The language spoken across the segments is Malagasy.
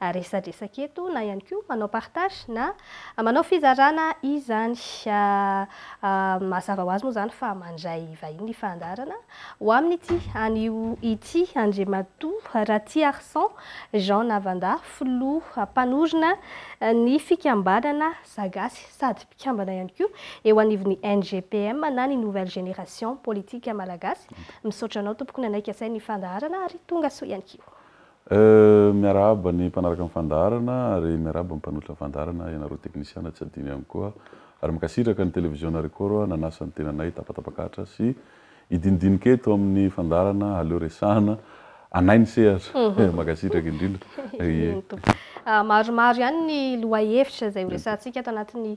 resadresaka eto na ihany koa manao partage na manao fizarana izany. Mazava ho azy moa izany fa mandray vahiny ny fandaharana ho amin'ity anio ity. Andriamatoa Ratiarison Jean Navanda, filoha mpanorina ny fikambanana Zagasy sady mpikambana ihany koa eo anivon'ny NGPM na ny Nouvelle Génération Politique Malagasy. Misaotra anao tompoko nanaiky asain'ny fandaharana ary tonga soa ihany koa. Euh miarahaba ny mpanaraka ny fandaharana ary miarahaba ny mpanolotra ny fandaharana, ianareo teknisiana tsy adino ihany koa ary mankasitraka ny televiziona Record nanasa ny tenanay tapatapak'Atra sy hidinidinika eto amin'ny fandaharana aleo resahana anay ny sehatra eh mankasitraka indrindra eh. Maromaro ihany ny lohahevitra izay horesahantsika ato anatin'ny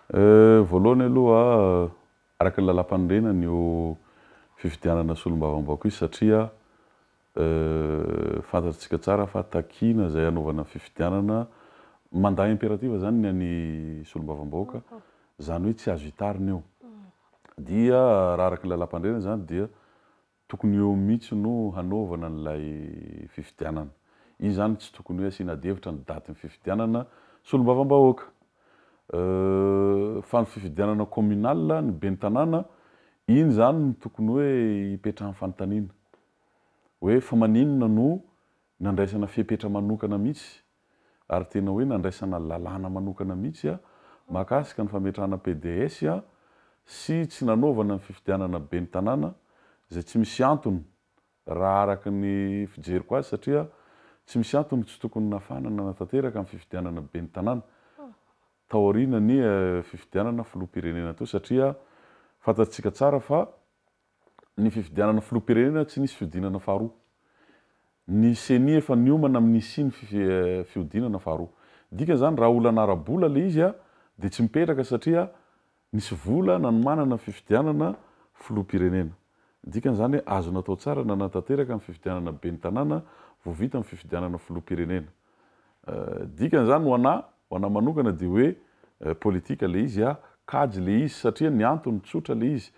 Euh, voalohany aloha araka ny lalam-panorenana ny eo fifidianana solombavambahoaka io satria euh, fantatsika tsara fa takiana izay hanaovana ny fifidianana, mandat impératif izany ny an'ny solombavambahoaka, izany hoe tsy azo itarina io. Dia raha araka ny lalam-panorenana izany dia Tokony eo mihitsy no hanaovana an'ilay fifidianana. Izy izany tsy tokony hoe asiana adihevitra ny datin'ny fifidianana solombavambahoaka. Fa ny fifidianana communal, ny ben'ny tanàna, iny izany no tokony hoe ipetrahan'ny fanontaniana. Hoe fa maninona no nandraisana fepetra manokana mihitsy ary tena hoe nandraisana lalàna manokana mihitsy mahakasika ny fametrahana PDS sy tsy nanaovana ny fifidianana ben'ny tanàna izay tsy misy antony raha araka ny fijeriko azy satria tsy misy antony tsy tokony nafana nanatanteraka ny fifidianana ben'ny tanàna taoriana ny fifidianana filoham-pirenena teo satria fantatsika tsara fa ny fifidianana filoham-pirenena tsy nisy fihodinana faharoa. Ny ceni efa niomana amin'ny hisiany ny fihodinana faharoa. Ny dikany izany raha olana ara-bola ilay izy dia tsy mipetraka satria nisy vola nanomanana ny fifidianana filoham-pirenena. Ny dikany izany hoe azo natao tsara nanatanteraka ny fifidianana ben'ny tanàna vao vita ny fifidianana filoham-pirenena. Dikany zany ho anah, ho anah manokana dia hoe politika le izy ah, kajy le izy satria ny antony tsotra le izy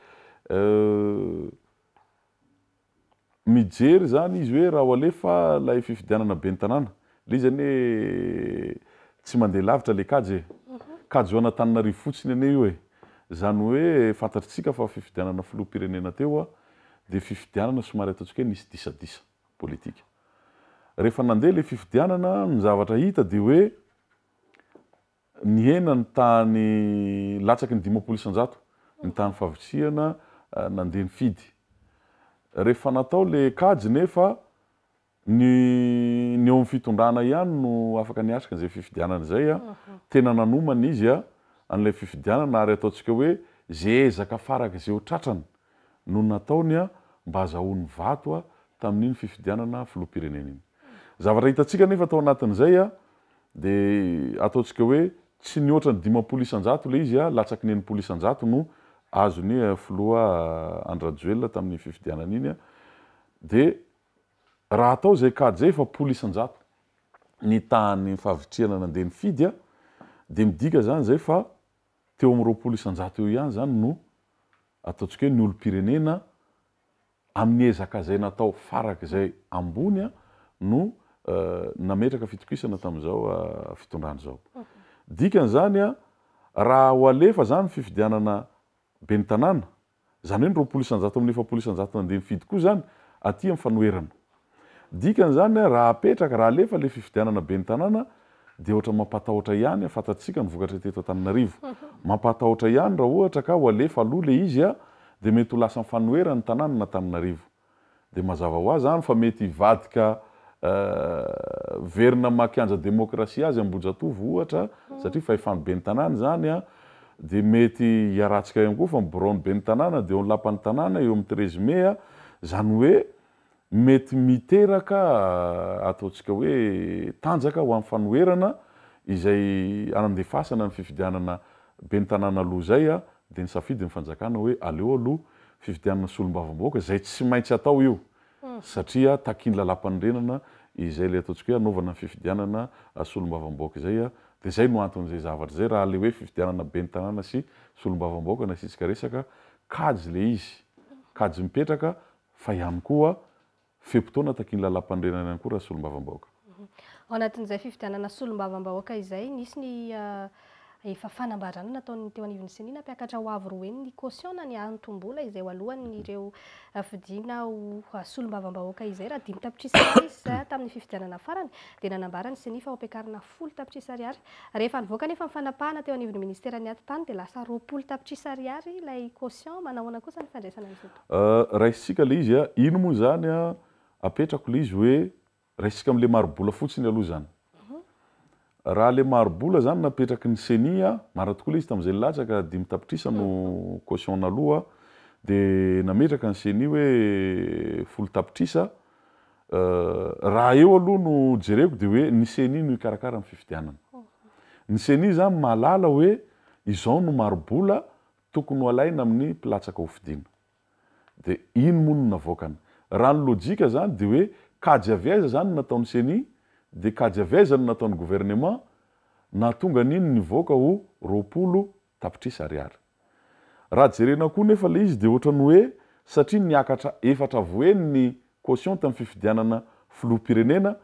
mijery zany izy hoe raha ho alefa lay fifidianana ben'ny tanàna, le izy anie tsy mandeha lavitra le kajy e! Kajy ho an'Antananarivo fotsiny anie io e! Zany hoe fantatritsika fa fifidianana filoham-pirenena teo ah, dia fifidianana somary ataontsika hoe nisy disadisa. politika. Rehefa nandeha ilay fifidianana, ny zavatra hita dia hoe nihena ny tahan'ny, latsaky ny dimampolo isan-jato ny tahan'ny fahavitrihana nandeha nifidy. Rehefa natao ilay kajy nefa ny ny eo amin'ny fitondrana ihany no afaka niatrika an'izay fifidianana izay. Tena nanomana izy an'ilay fifidianana ary ataontsika hoe izay ezaka farak'izay ho tratrany no nataony mba hazahoany vato tamin'iny fifidianana filoham-pirenena iny. Zavatra hitantsika anefa tao anatin'izay dia ataontsika hoe tsy nihoatra ny dimampolo isan-jato ilay izy, latsaky ny enimpolo isan-jato no azon'ny filoha Andry Rajoelina tamin'iny fifidianana iny, dia raha atao izay kajy izay efapolo isan-jato ny tahan'ny fahavitrihana nandeha nifidy dia midika izany izay fa teo amin'ny roapolo isan-jato eo ihany izany no ataontsika hoe ny olom-pirenena amin'ny ezaka izay natao farak'izay ambony no nametraka fitokisana tamin'izao fitondrana izao. Dikan'izany raha ho alefa izany ny fifidianana ben'ny tanàna Izany hoe ny roapolo isan-jato amin'ny efapolo isan-jato nandeha nifidy koa izany aty amin'ny fanoherana. Dikan'izany, raha apetraka, raha alefa ilay fifidianana ben'ny tanàna dia ohatra mampatahotra ihany, fantatsika ny vokatra teto Antananarivo. Mampahatahotra ihany raha ohatra ka ho alefa aloha ilay izy dia mety ho lasan'ny fanoherana ny tanàna na Antananarivo. Dia mazava ho azy izany fa mety hivadika hiverina maha kianja demokrasia azy Ambohijatovo ohatra satria fahefan'ny ben'ny tanàna izany dia mety hiharatsika ihany koa fa ny biraon'ny ben'ny tanàna dia eo ny lapan'ny tanàna eo amin'ny treize mai izany hoe mety miteraka ataontsika hoe tanjaka ho an'ny fanoherana izay hanandefasana ny fifidianana ben'ny tanàna aloha izay Dia nisafidy ny fanjakana hoe aleo aloha fifidianana solombavambahoaka izay tsy maintsy atao io satria takian'ny lalampanorenana izay ilay ataontsika hoe hanaovana ny fifidianana solombavambahoaka izay dia izay no anton'izay zavatra izay raha ilay hoe fifidianana ben'ny tanàna sy solombavambahoaka nasiantsika resaka kajy ilay izy kajy mipetraka fa ihany koa Fe-potoana takian'ny Lalàmpanorenana ihany koa raha solombavambahoaka. Ao anatin'izay fifidianana solombavambahoaka izay, nisy ny efa fanambarana nataon'ny teo anivon'ny Ceni nampiakatra ho avo roa heny ny caution na ny antom-bola izay ho alohan'ireo fidiana ho solombavambahoaka izay raha dimy tapitrisa ariary izy tamin'ny fifidianana farany dia nanambara ny Ceni fa ho ampiakarina folo tapitrisa ariary. Rehefa nivoaka anefa ny fanapahana teo anivon'ny ministeran'ny Atitany dia lasa roapolo tapitrisa ariary ilay caution. Manahoana kosa ny fandraisana an'izao tontolo izao? Euh raisintsika le izy a! Ino moa izany a! Apetrako le izy hoe raisintsika amle maribola fotsiny aloha izany. Raha le maribola izany napetraky ny ceni a! Marina tokoa le izy tamin'izay nilatsaka dimy tapitrisa no caution naloa de nametraka ny ceni hoe folo tapitrisa euh raha eo aloha no jereko de hoe ny ceni no hikarakara ny fifidianana. Ny ceni izany mahalala hoe izao no maribola Tokony ho alaina amin'ny mpilatsaka ho fidiana. Dia iny moa no navoakany. Raha ny lojika izany dia hoe kajy avy aiza izany no nataon'ny ceni? Dia kajy avy aiza no nataon'ny gouvernement nahatonga an'iny nivoaka ho roapolo tapitrisa ariary? Raha jerena koa nefa ilay izy dia ohatran'ny hoe satria niakatra efatra voheny ny caution tamin'ny fifidianana filoham-pirenena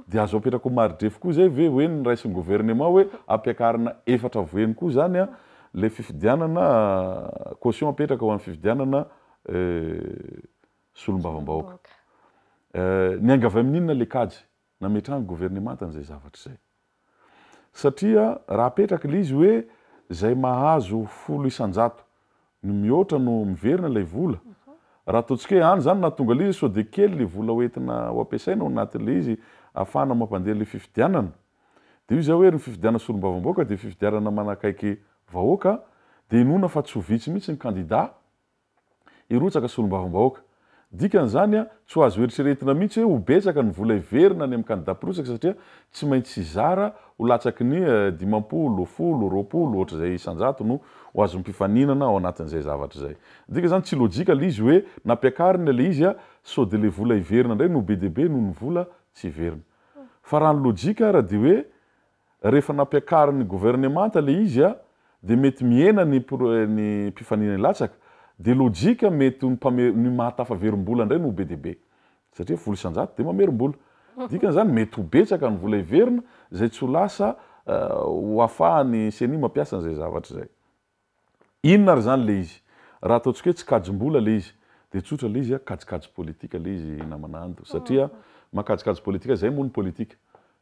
dia azo apetraka ho mari-drefy koa izay ve hoe niraisin'ny gouvernement hoe ampiakarina efatra voeny koa izany ilay fifidianana caution apetraka ho an'ny fifidianana solombavambahoaka. Niainga avy amin'inona ilay kajy? nametrahan'ny governemanta an'izay zavatra izay. Satria raha apetraka ilay izy hoe izay mahazo folo isan-jato ny mihoatra no miverina ilay vola, raha ataontsika hoe any izany nahatonga ilay izy sao dia kely ilay vola ho entina ho ampiasaina ao anatin'ilay izy ahafahana mampandeha ilay fifidianana. Dia io izay hoe ry ny fifidianana solombavambahoaka dia fifidianana manakaiky vahoaka dia inoana fa tsy ho vitsy mihitsy ny kandida hirotsaka solombavambahoaka. Dikan'izany, tsy ho azo eritreretina mihitsy hoe ho betsaka ny vola hiverina any amin'ny kandidà mpirotsaka satria tsy maintsy hizara ho latsaky ny dimampolo, folo, roapolo, ohatr'izay isan-jato no ho azon'ny mpifaninana ao anatin'izay zavatra izay. Midika izany tsy lojika ilay izy hoe nampiakarina ilay izy sao dia ilay vola hiverina indray no be dia be noho ny vola tsy hiverina. Fa raha ny lojika ary dia hoe Rehefa nampiakarin'ny governemanta le izy a, de mety mihena ny ny mpifanina hilatsaka, de lojika mety ho ny mpame ny maha tafaverim-bola indray no ho be dia be, satria vola isan-jato de mamerim-bola, dikan'izany mety ho betsaka ny vola heverina izay tsy ho lasa ho afahan'ny ceni mampiasa an'izay zavatra izay. Inona ary zany le izy? Raha ataontsika hoe tsy kajim-bola le izy dia tsotra le izy a, kajikajy politika le izy namana Ando satria mankajikajy politika, zay moa ny politika,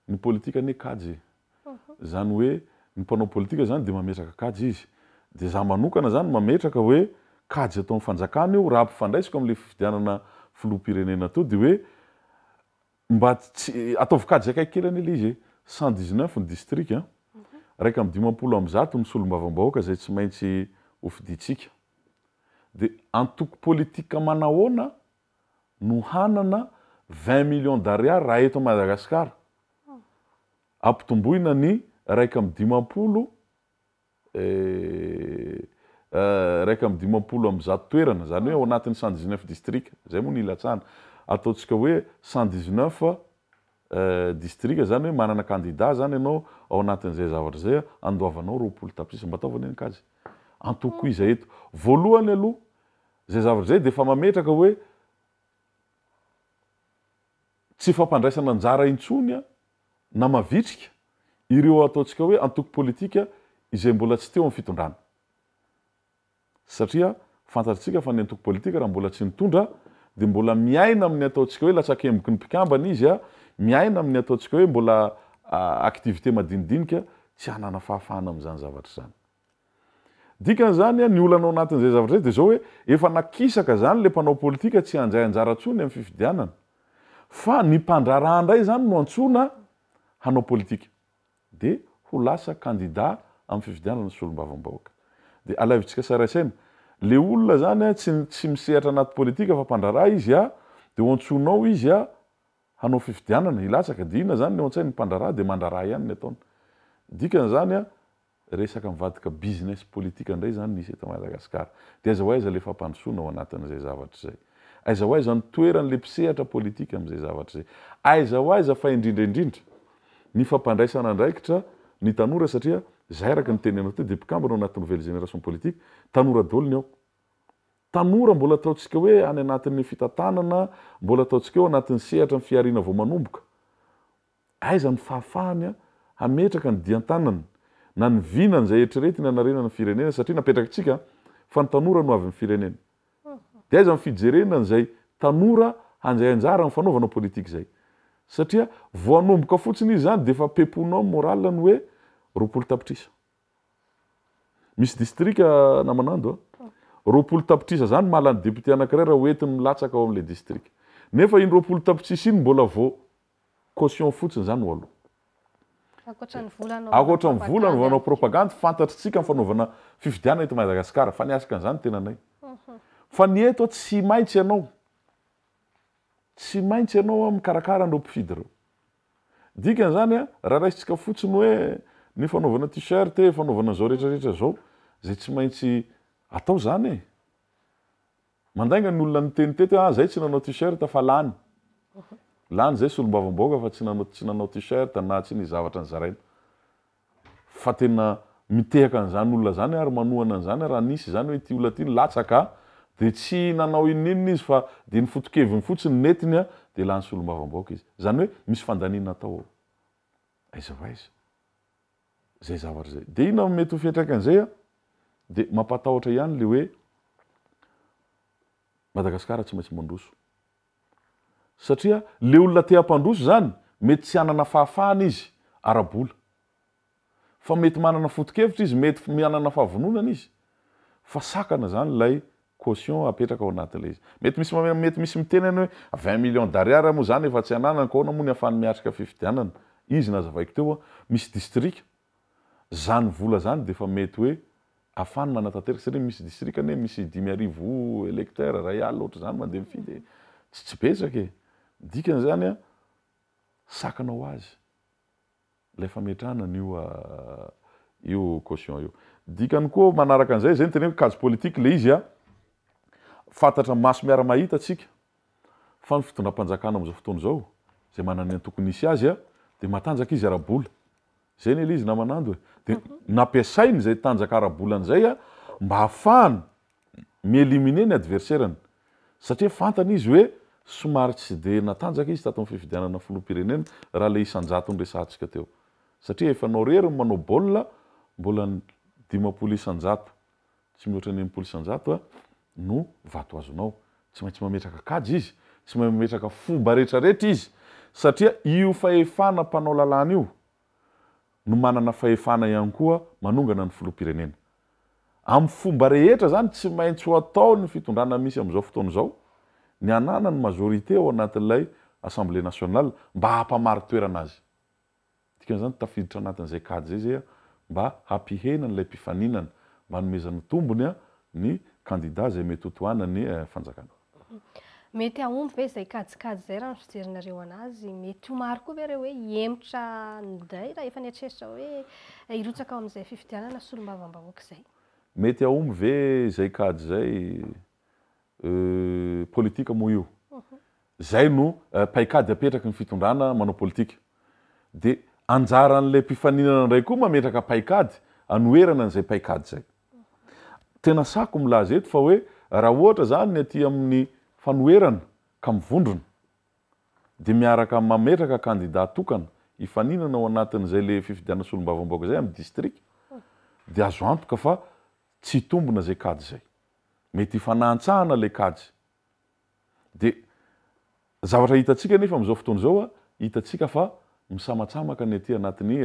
ny politika anie kajy e! zany hoe ny mpanao politika zany dia mametraka kajy izy, dia za manokana zany mametraka hoe kajy ataon'ny fanjakana io raha ampifandraisiko amin'ilay fifidianana filoham-pirenena teo dia hoe Mba tsy, ataovy kajy akaiky kely anie le izy e! Cent dix neuf ny distrika an! Iraika amby dimampolo amby zato ny solombavambahoaka izay tsy maintsy ho fidintsika. De antoko politika manahoana no hanana vingt millions d'ariary raha eto Madagasikara? Ampitomboina ny iraika amby dimampolo Eh, iraika amby dimampolo amby zato toerana, izany hoe ao anatin'ny cent dix neuf distrika, izay moa no ilatsahana. Ataontsika hoe cent dix neuf distrika, izany hoe manana kandida izany ianao ao anatin'izay zavatra izay, andoavanao roapolo tapitrisa. Mba ataovy anie ny kajy. Antokoiza eto. Voalohany aloha, izay zavatra izay dia efa mametraka hoe, Tsy fampandraisana anjara intsony na mavitrika ireo ataontsika hoe antoko politika izay mbola tsy teo amin'ny fitondrana. Satria fantatrtsika fa ny antoko politika raha mbola tsy nitondra dia mbola miaina amin'ny ataontsika hoe latsakemboky ny mpikambana izy, miaina amin'ny ataontsika hoe mbola activités madinidinika, tsy hanana fahafahana amin'izany zavatra izany. Dikan'izany, ny olana ao anatin'izay zavatra izay dia izao hoe, efa nakisaka izany ilay mpanao politika tsy handray anjara intsony amin'ny fifidianana, fa ny mpandraharaha indray izany no antsoina hanao politika, dia ho lasa kandida amin'ny fifidianana solombavambahoaka. Dia alaivontsika saraisaina, ilay olona izany tsy misehatra anaty politika fa mpandraharaha izy, dia ho antsoinao izy hanao fifidianana, hilatsaka, dia inona izany ny ao an-tsain'ny mpandraharaha? Dia mandraharaha ihany ny ataony. Dikan'izany, Resaka mivadika business politika indray izany misy eto Madagascar. Dia aiza ho aiza ilay fampandrosoana ao anatin'izay zavatra izay? Aiza ho aiza ny toeran'ilay mpisehatra politika amin'izay zavatra izay? Aiza ho aiza fa indrindra indrindra ny fampandraisana andraikitra ny tanora satria izay araka ny teninao teo dia mpikambana ao anaty nouvelle génération politique tanora daholo ny ao. Tanora mbola ataontsika hoe any anatin'ny fitantanana, mbola ataontsika eo anatin'ny sehatra ny fihariana vao manomboka. Aiza ny fahafahany hametraka ny dian-tanany na ny vinany izay eritreretiny hanarena ny firenena satria napetrakintsika fa ny tanora no avin'ny firenena. Dia aiza ny fijerena an'izay tanora handray anjara amin'ny fanaovana politika izay? Satria vao hanomboka fotsiny izy izany dia efa peponao ny morale ny hoe roapolo tapitrisa. Misy distrika na Manando a! roapolo tapitrisa izany mahalany député anankiray raha hoentiny milatsaka ao amin'ilay distrika. Nefa iny roapolo tapitrisa iny mbola vao Caution fotsiny izany ho aloha. Ankoatra ny vola anaovana propagande. Ankoatra ny vola anaovana propagande, fantatritsika ny fanaovana fifidianana eto Madagascar, fa ny asaka an'izany tenanay. Fa ny eto tsy maintsy ianao, tsy maintsy ianao mikarakara an'ireo mpifidy ireo. Dikan'izany raha raisintsika fotsiny hoe ny fanaovana t-shirt e, fanaovana izao rehetra rehetra izao, izay tsy maintsy atao izany e. Mandainga ny olona niteny teto hoe ah zay tsy nanao t-shirt fa lany. Lany zay solombavambahoaka fa tsy nanao tsy nanao t-shirt na tsy nisy zavatra nizaraina. Fa tena mitehaka an'izany olona zany ary manohana an'izany raha nisy izany hoe ity olona ity nilatsaka dia tsy nanao inon'inona izy fa dia ny fotokeviny fotsiny netiny dia lany solombavambahoaka izy. Izany hoe misy fandaniana atao ao. Aiza ho aiza. zay zavatra izay. Dia inona no mety ho fiantraikan'izay an? Dia mampatahotra ihany ilay hoe Madagasikara tsy maintsy mandroso. Satria ilay olona te hampandroso izany, mety tsy hanana fahafahana izy ara-bola. Fa mety manana foto-kevitra izy, mety manana fahavononana izy. Fa sakana izany ilay caution apetraka ao anatin'ilay izy. Mety misy mamela mety misy miteny any hoe vingt millions d'ariary moa izany efa tsy ananako ahoana moa ny hafahany miatrika fifidianana? Izy nazavaiko teo hoa misy distrika izany vola izany dia efa mety hoe hafahany manatanteraka satria misy distrika anie misy dimy arivo electeurs iray alina ohatr'izany mandeha mifidy e! tsy tsy betsaka e! ny dikany izany an sakana ho azy. Ilay fametrahana an'io io caution io. Dikany koa manaraka an'izay, izay no teneniko, kajy politique ilay izy an! Fantatra maso miara-mahita tsika fa ny fitondram-panjakana amin'izao fotoana izao, izay manana ny antokony hisy azy an! dia matanjaka izy ara-bola. Izay ne ilay izy naman'ando e! Dia nampiasainy izay tanjaka ara-bolany izay an! mba hahafahany mi-éliminer ny adversaire-ny satria fantany izy hoe somary tsy dia natanjaka izy tato amin'ny fifidianana filoham-pirenena raha ilay isan-jato niresahantsika teo satria efa anao irery ny manao baolina mbola ny dimampolo isan-jato tsy mihoatra ny enimpolo isan-jato no vato azonao tsy maintsy mametraka kajy izy tsy mametraka fomba rehetra rehetra izy satria io fahefana mpanao lalàna io no manana fahefana ihany koa manongana ny filoham-pirenena. Amin'ny fomba rehetra izany tsy maintsy ho ataon'ny fitondrana misy amin'izao fotoana izao ny hananany majorité ao anatin'ilay Assemblée nationale mba hampamari-toerana azy. Dikan'izany tafiditra anatin'izay kajy izay izay mba hampihena an'ilay mpifaninana, mba hanomezana tombony ny kandida izay mety ho tohanan'ny fanjakana. Mety hahomby ve izay kajikajy izay raha ny fijerinareo an'azy? Mety ho maro koa ve ireo hoe hihemotra indray raha efa nieritreritra hoe hirotsaka ao amin'izay fifidianana solombavambahoaka izay? Mety hahomby ve izay kajy izay? Euh, politika moa io. Izay no paikady apetraky ny fitondrana manao politika. Dia anjaran'ilay mpifaninana indray koa mametraka paikady hanoherana an'izay paikady izay. Tena sako milaza eto fa hoe raha ohatra izany ny aty amin'ny fanoherana ka mivondrona dia miaraka mametraka kandida tokana hifaninana ao anatin'izay ilay fifidianana solombavambahoaka izay amin'ny distrika dia azo antoka fa tsy hitombina izay kajy izay. Mety hifanahantsahana ilay kajy. Dia zavatra hitantsika anefa amin'izao fotoana izao, hitantsika fa misamatsamaka ny aty anatin'ny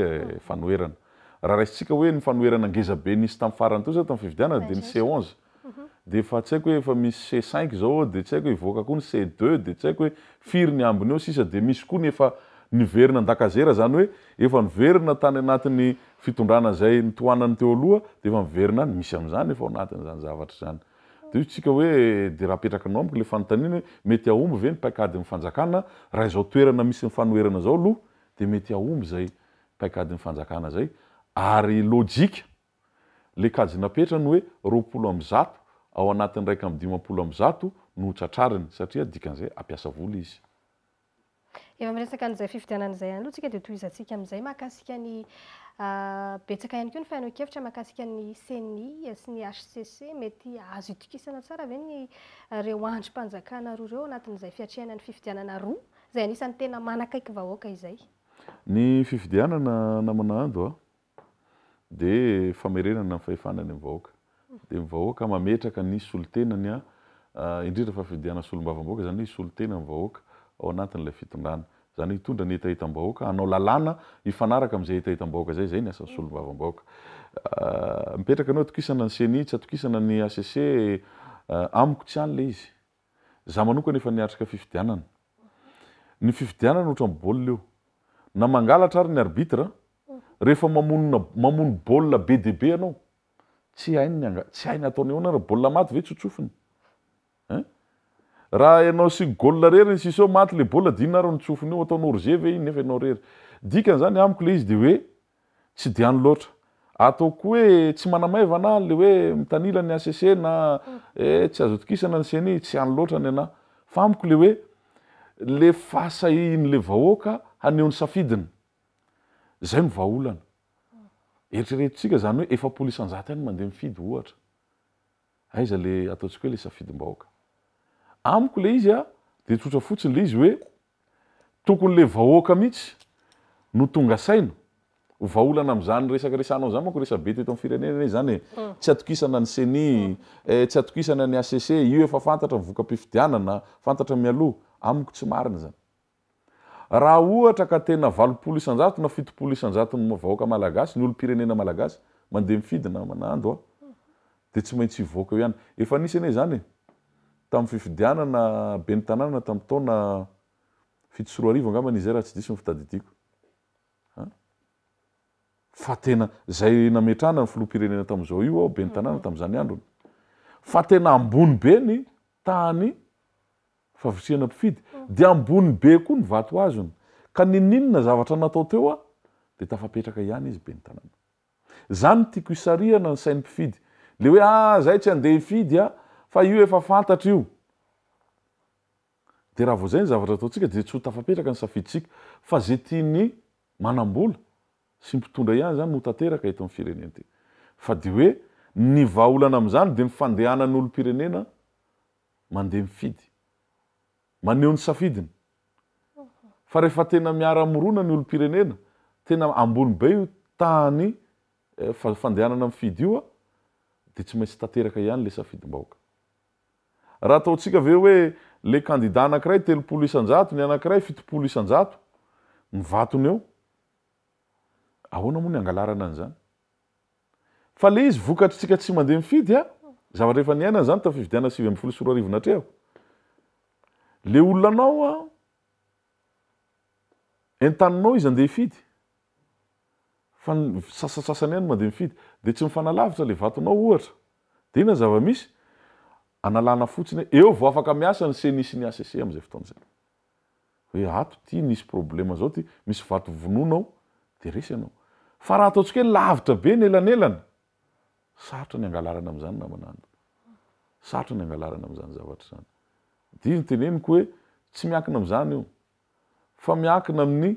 fanoherana. Raha raisintsika hoe ny fanoherana ngeza be nisy tamin'ny farany teo izao tamin'ny fifidianana dia ny C onze. Dia efa tsy haiko hoe efa misy C cinq izao ao dia tsy haiko hoe hivoaka koa ny C deux dia tsy haiko hoe firy ny ambiny eo sisa dia misy koa ny efa niverina an-dakazera izany hoe efa niverina tany anatin'ny fitondrana izay nitohanany teo aloha dia efa miverina any, misy amin'izany efa ao anatin'izany zavatra izany. Dia hoy isika hoe, dia raha apetrakanao amiko ilay fanontaniana hoe, mety hahomby ve ny paikadin'ny fanjakana raha izao toerana misy ny fanoherana izao aloha dia mety hahomby izay paikadin'ny fanjakana izay ary lojika ilay kajy napetrany hoe roapolo amby zato ao anatin'ny iraika amby dimampolo amby zato no ho tratrariny satria dikan'izay hampiasa vola izy. Efa miresaka an'izay fifidianana izay ihany aloha tsika dia tohizantsika amin'izay mahakasika ny betsaka ihany koa ny fihainoan-kevitra mahakasika ny ceni sy ny hcc. Mety azo itokisana tsara ve ny ireo andrim-panjakana roa ireo anatin'izay fiatrehana ny fifidianana roa izay anisan'ny tena manakaiky vahoaka izay? Ny fifidianana namana ando dia famerenana ny fahefana any amin'ny vahoaka. Dia ny vahoaka mametraka ny solontenany, indrindra fa fifidianana solombavambahoaka, izany hoe hisolo tena ny vahoaka ao anatin'ilay fitondrana. Izany hoe hitondra ny hetahetam-bahoaka, hanao lalàna hifanaraka amin'izay hetahetam-bahoaka izay, izay ny asan'ny solombavambahoaka. Mipetraka ny hoe atokisana ny ceni, tsy atokisana ny hcc, amiko tsy any ilay izy. Izaho manokana efa niatrika fifidianana. Ny fifidianana ohatran'ny baolina io. Na mangalatra ary ny arbitre, rehefa mamonina mamono baolina be dia be ianao, tsy hainy ny angady, tsy hainy ataony ahoana ary baolina maty ve tsotsofiny eh? Raha ianao sy goal rery ny siso maty le baolina dia inona ary ny tsofiny eo, ataonao rge ve iny nefa ianao rery? Dikan'izany amiko le izy dia hoe tsy dia any loatra. Ataoko hoe tsy manamaivana aho le hoe mitanila ny HCC na eh tsy azo itokisana ny ceni, tsy any loatra ny anah. Fa amiko le hoe le fahasahihin'le vahoaka haneho ny safidiny. Izay no vahaolana. Eritreretintsika izany hoe efapolo isanjato ihany no mandeha mifidy ohatra. Aiza ilay ataontsika hoe ilay safidim-bahoaka. Amiko ilay izy dia tsotra fotsiny ilay izy hoe tokony ilay vahoaka mihitsy no tonga saina. Ho vahaolana amin'izany resaka resahanao izany manko resabe teto amin'ny firenena izany e. Tsy atokisana ny ceni, tsy atokisana ny HCC, io efa fantatra ny voka-pifidianana, fantatra mialoha. Amiko tsy marina izany. Raha ohatra ka tena valopolo isanjato na fitopolo isanjaton'ny vahoaka malagasy, ny olom-pirenena malagasy, mandeha mifidy na manando a! dia tsy maintsy hivoaka eo ihany. Efa nisy anie izany e! tamin'ny fifidianana ben'ny tanàna tamin'ny taona fito sy roa arivo angambany izay raha tsy diso ny fitadidiako a! fa tena izay nametrahana ny filoham-pirenena tamin'izao io aho ben'ny tanàna tamin'izany androny fa tena ambony be ny tahan'ny Favoriana mpifidy, dia ambony be koa ny vato azony, ka ninininona zavatra natao teo aho dia tafapetraka ihany izy ben'ny tanàna. Zany no tiako hisarihana ny sain'ny mpifidy, le hoe ah zay tsy andeha hifidy ah fa io efa fantatra io. Dia raha vao zay ny zavatra ataontsika dia tsy ho tafapetraka ny safiditsika, fa ze tian'ny manambola sy mpitondra ihany zany no ho tanteraka eto amin'ny firenena ity. Fa dia hoe ny vahaolana amin'izany dia ny fandehanan'ny olompirenena mandeha mifidy. Maneho ny safidiny. Fa rehefa tena miara-mirona ny olom-pirenena, tena ambony be io tahan'ny fandehanana mifidy io, dia tsy maintsy tanteraka ihany ilay safidim-bahoaka. Raha ataontsika ve hoe ilay kandida anankiray telopolo isan-jato, ny anankiray fitopolo isan-jato, mivatona eo, ahoana moa ny hangalarana an'izany? Fa le izy vokatry tsika tsy mandeha mifidy a, zavatra efa niainana zany tam fifidianana sivy ambin'ny folo sy roa arivo natreo. Le olona anao a, entaninao izy andeha hifidy, fa ny sasatsasany ihany mandeha mifidy, de tsy mifanalavitra le vatonao ohatra, de inona zava-misy? analana fotsiny hoe eo vao afaka miasa ny ceni sy ny HCC amzay fotoana zay. hoe ato ty nisy problema zao ty, misy vato vonoina ao dia resy ianao. Fa raha ataontsika hoe lavitra be ny elanelana, sarotra ny hangalarana amin'izany namana an. Sarotra ny hangalarana amin'izany zavatra izany. Dia izy no teneniko hoe tsy miankina amin'izany io fa miankina amin'ny